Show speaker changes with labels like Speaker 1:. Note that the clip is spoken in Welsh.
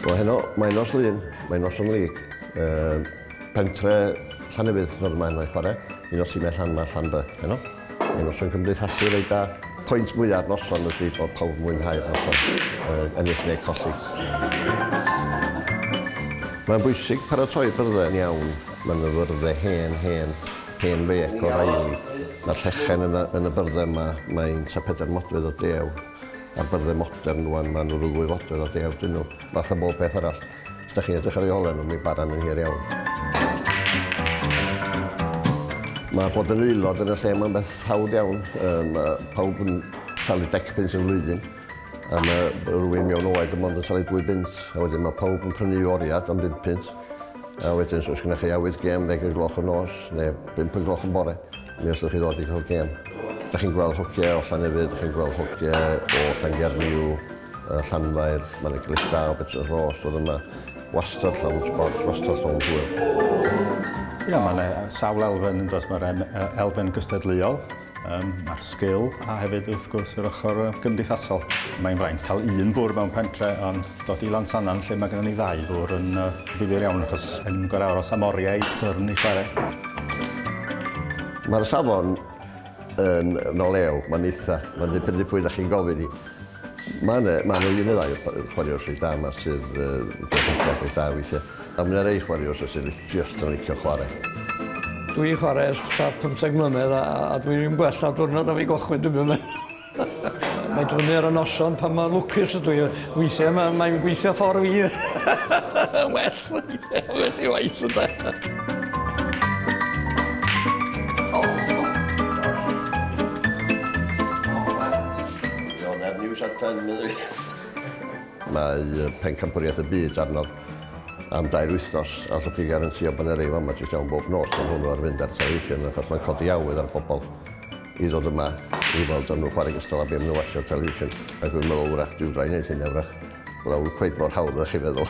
Speaker 1: O heno, mae nos lun, mae nos yn lig. Uh, pentre Llanefydd, roedd yma heno i chwarae. Un o'r tîmau Llan yma, Llan by, heno. Mae noson cymdeithasu reit da. Pwynt mwya'r noson ydy bod pawb yn mwynhau'r noson, yy ennill neu colli. Mae'n bwysig paratoi byrddau'n iawn. Mae yna fyrddau hen, hen, hen fêc o raili. Mae'r llechen yn y yn y byrddau yma, mae'n ta pedair modfedd o dew. A'r byrddau modern rwan, maen nhw ryw ddwy fodfedd o dew dyn nhw, fath a bob peth arall. Os da chi'n edrych ar ei holen o, mi baran yn hir iawn. Mae bod yn aelod yn y lle mae'n beth hawdd iawn. Mae pawb yn talu dec pins yn flwyddyn. A mae rhywun mewn oed yn mond yn talu dwy bint. A wedyn mae pawb yn prynu oriad am bint pint. A wedyn, os gynnwch chi awydd gem ddeg y gloch yn nos, neu bimp y gloch yn bore, mi allwch chi ddod i cael gem. Da chi'n gweld hogiau o Llanefydd, da chi'n gweld hogiau o Llangernyw, y Llanfair, mae'n eglwys da o Betws Ros, bod yma wastad llawn sbort, wastad llawn hwyl. Ia, mae'n
Speaker 2: sawl elfen yn dros, mae'r elfen gystadleuol, um, mae'r sgil a hefyd wrth gwrs yr ochr gymdeithasol. Mae'n fraint cael un bwr mewn pentre ond dod i Lansanan lle mae gennym ni ddau bwr yn uh, ddifyr iawn achos yn gorau aros am oriau tyrn i chwarae.
Speaker 1: Mae'r safon yn nol ew, mae'n eitha, mae'n ddibynnu pwy da chi'n gofyn i. Mae yna, mae yna un neu ddau chwaraewr sydd da yma sydd yn gwneud rhywbeth beth da weithiau. A mae yna rei chwaraewr sydd just yn licio chwarae. Dwi
Speaker 3: chwarae ers ta 15 mlynedd a, a dwi'n gwella diwrnod am ei gochwyn dwi'n mynd. Mae dwni ar y noson pan mae lwcus ydw i. Weithiau mae, mae'n gweithio ffordd fi. well, weithiau, well i waith ydw. Mae Pencampwriaeth y Byd arno am dair wythnos, a allwch chi garantio bod yna rei fama jyst iawn bob nos, mae hwnnw ar fynd ar y television achos mae'n codi awydd ar bobl. i ddod yma i weld o'n nhw chwarae gystal â be' ma' nhw watsio ar television ac rwy'n meddwl wrach dyw rai neud hynna wrach bod o cweit mor hawdd â chi feddwl.